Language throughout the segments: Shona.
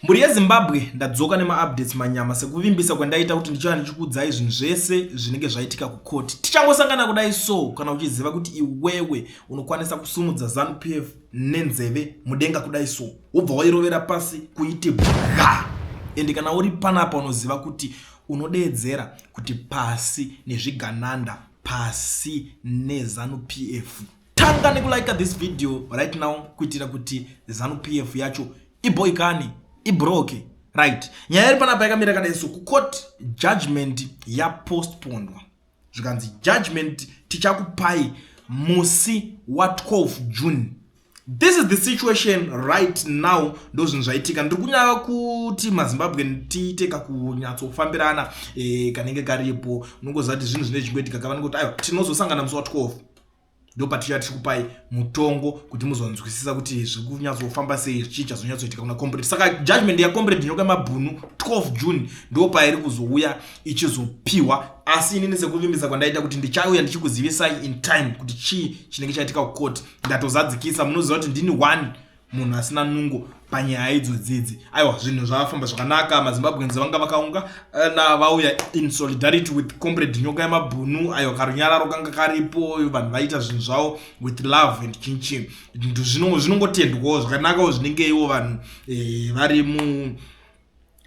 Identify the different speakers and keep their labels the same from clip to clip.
Speaker 1: Mhuri yeZimbabwe ndadzoka nemaupdates manyama sekuvimbisa kwandaita kuti ndichava ndichikuudzai zvinhu zvese zvinenge zvaitika kucourt. Tichangosangana kudai so kana uchiziva kuti iwewe unokwanisa kusumudza Zanu PF nenzeve mudenga kudai so wobva wairovera pasi kuiti bwa ende kana uri panapa unoziva kuti unodeedzera kuti pasi nezvigananda pasi neZanu PF. tanga nekulika this video right now kuitira kuti zanu pf yacho iboikane ibroke right nyaya iri panapa yakamira kadai so kucourt judgment yapostponwa zvikanzi judgment tichakupai musi wa12 june this is the situation right now ndo zvinhu zvaitika ndiri kunyava kuti mazimbabwe tiite kakunyatsofambirana e, kanenge karipo unongoziva kuti zvinhu zvinenge zvichingoitika kavanenge kuti aiwa tinozosangana musi wa12 Ndopatichauya tichikupai mutongo kuti muzonzwisisa kuti zviri kunyatsofamba sei chii chazonyatsoitika kuna comrade. Saka judgment yacomrade Nyoka Mabhunu 12 June ndo pairi kuzouya ichizopiwa asi inini sekuvimbisa kwandaita kuti ndichauya ndichikuzivisai in time kuti chii chinenge chaitika kucourt ndatozadzikisa munoziva kuti ndini one munhu asina nungo panyaya idzo dzidzi aiwa zvinhu zvafamba zvakanaka mazimbabweans vanga vakaunga eh, na vauya in solidarity with comrade nyoka yemabhunu aiwa karunyararo kanga karipo vanhu vaita zvinhu zvavo with love and chinchi zvinongotendwawo zvakanakawo zvinenge iwo vanhu eh, vari mu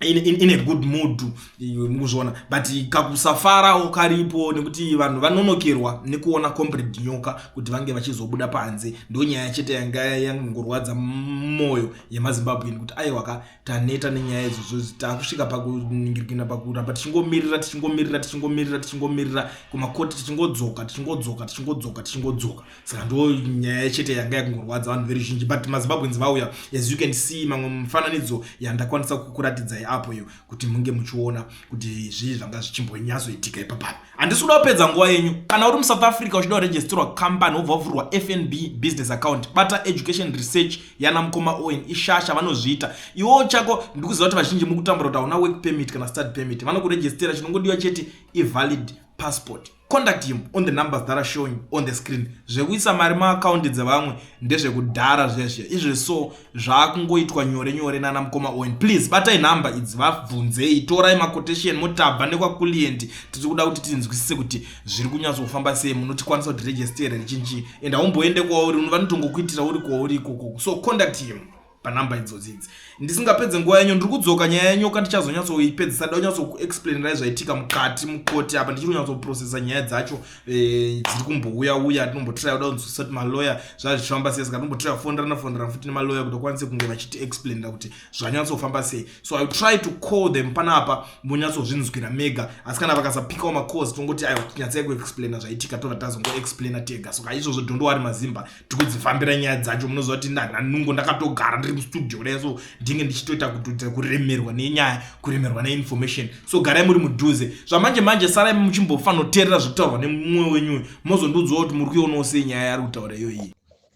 Speaker 1: in, in, in a good mood mukuzviona but kakusafarawo karipo nekuti vanhu vanonokerwa nekuona comrade nyoka kuti vange vachizobuda panze ndo nyaya chete yanga yangorwadza mwoyo yemazimbabwean kuti aiwa ka taneta nenyaya idzodzo takusvika pakuningirikina pakuramba tichingomirira tichingomirira tichingomirira tichingomirira kumakoti tichingodzoka tichingodzoka tichingodzoka tichingodzoka saka ndo nyaya chete yanga yakungorwadza vanhu veruzhinji but mazimbabwens vauya as you can see mamwe mifananidzo yandakwanisa kukuratidzai apo iyo kuti munge muchiona kuti zvii zvanga zvichimbonyatsoitika ipapaa handisi kuda kupedza nguva yenyu kana uri musouth africa uchida kuregisterwa company wobva wavhurwa fnb business account bata education research yana mukoma owen ishasha vanozviita iwowo chako ndikuziva kuti vazhinji mukutambura kuti hauna work permit kana start permit vanokuregistera chinongodiwa chete ivalid passport Contact him on the numbers that are showing on the screen. Zvekuisa mari maakaundi dzevamwe ndezvekudhara zviya zviya izve so zvaakungoitwa nyore nyore nana mukoma Owen. Please batai nhamba idzi vabvunzei, torai maquotation motabva nekwakulienti. Tiri kuda kuti tinzwisise kuti zviri kunyatsofamba sei, munotikwanisa kuti register here richinji and haumboende kwauri, vanotongokuitira uri kwauri ikoko. So contact him. panumber idzodzi idzi ndisingapedze nguva yenyu ndiri kudzoka nyaya yenyoka ndichazonyatsoipedzisa da unyatsokuexplainerai zvaitika mukati mukoti apa ndichiri kunyatsoprocesa nyaya dzacho eh, dziri kumbouya uya tinombotry uda kunzwisisati maloyer zvazvichifamba sei saka tinombotry fonderana fonderana futi nemaloyer kuti akwanise kunge vachiti explainira kuti zvanyatsofamba sei so i try to call them pana apa monyatsozvinzwira mega asi kana vakasapikawo macause tongoti aiwa tinyatsai kuexplaina zvaitika tova tazongoexplaina tega soka izvozvo dhondowari mazimba tikudzifambira nyaya dzacho munoziva kuti ndanungo ndakatogara ndiri mustudio kudai so ndinge ndichitoita kutudza kuremerwa nenyaya kuremerwa neinformation so garai muri mudhuze zvamanje manje sarai muchimbofanoterera zviri kutaurwa nemumwe wenyu mozondiudzwa kuti muri kuionawo sei nyaya yari kutaura iyoyi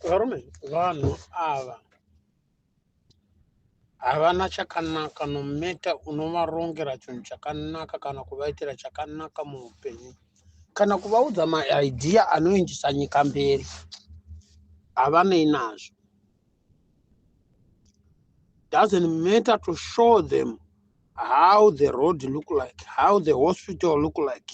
Speaker 1: varume
Speaker 2: vanhu ava havana chakanaka nometa unovarongera chinhu chakanaka kana kuvaitira chakanaka muupenyu kana kuvaudza maidhiya anoendisa nyika mberi havanei nazvo doesn't matter to show them how the road look like how the hospital look like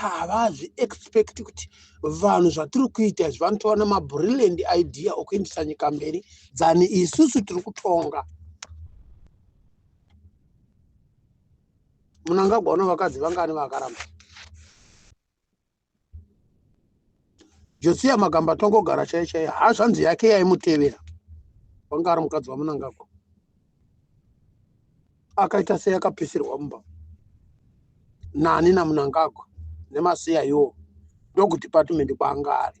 Speaker 2: havazvi expect kuti vanhu zvatiri kuita izvi vanotova nemabrilliant idea okuendesa nyika mberi dzani isusu tiri kutonga munangagwa uno vakadzi vangani vakaramba josiya magamba atongogara chaiye chaiye hazvanzi yake yaimutevera wanga ari mukadzi wamunangagwa akaita sei akapisirwa mumba nani namunangagwa nemasiya iwo ndokudepartment kwaanga ari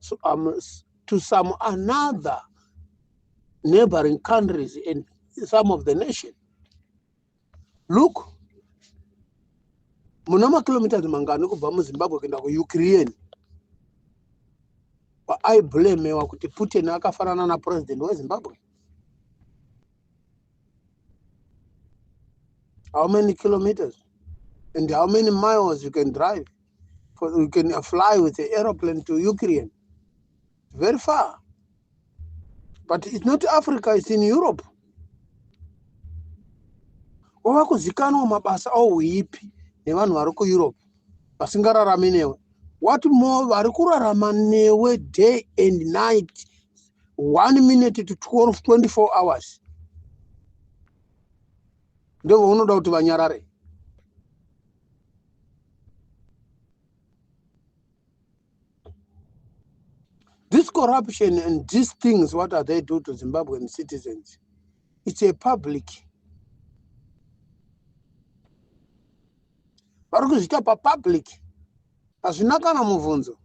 Speaker 2: so, um, to some another neighboring countries and some of the nation look muna makilometers mangani kubva muzimbabwe kuenda kuukraine aiblemewa kuti putin akafanana napurezidendi wezimbabwe how many kilometers and how many miles you can drive for, you can fly with an aeroplane to Ukraine. Very far. But it's not Africa, it's in Europe. wava kuzikanwa mabasa auipi nevanhu vari kueurope vasingararami newe what more vari kurarama newe day and night one minute to 12 24 hours ndovaunoda kuti vanyarare This corruption and these things, what are they do to Zimbabwean citizens? It's a public. vari kuzviita papublic hazvina kana mubvunzo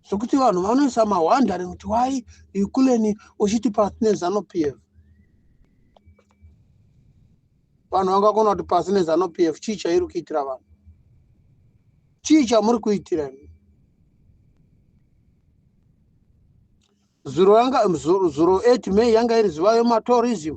Speaker 2: zvekuti vanhu vanoisa mahwandari kuti wai ikuleni uchiti pasi nezano p f vanhu vangakona kuti pasi nezano p f chii chairi kuitira vanhu chii chamuri kuitira zuro yanga zuro 8 may yanga iri zuva yematorism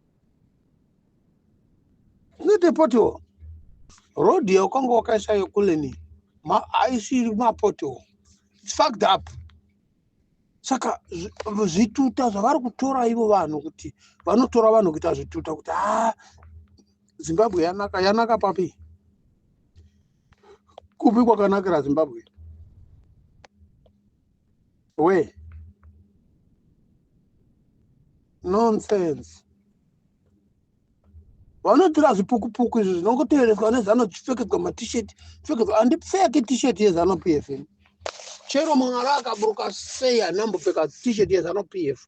Speaker 2: Nete poto road yaukanga wakaisa yokuleni aisiri mapoto fucked up saka zvituta zvavari kutora ivo vanhu kuti vanotora vanhu kuita zvituta kuti haa ah, zimbabwe yanaka yanaka papi kupi kwakanakira zimbabwe we nonsense vanotora zvipukupuku izvo zvinongotevereswa nezano chipfekedzwa matishet pfekedzwa handipfeke tishet yezano p f chero mwari akaburuka sei handambopfeka tishet yezano p f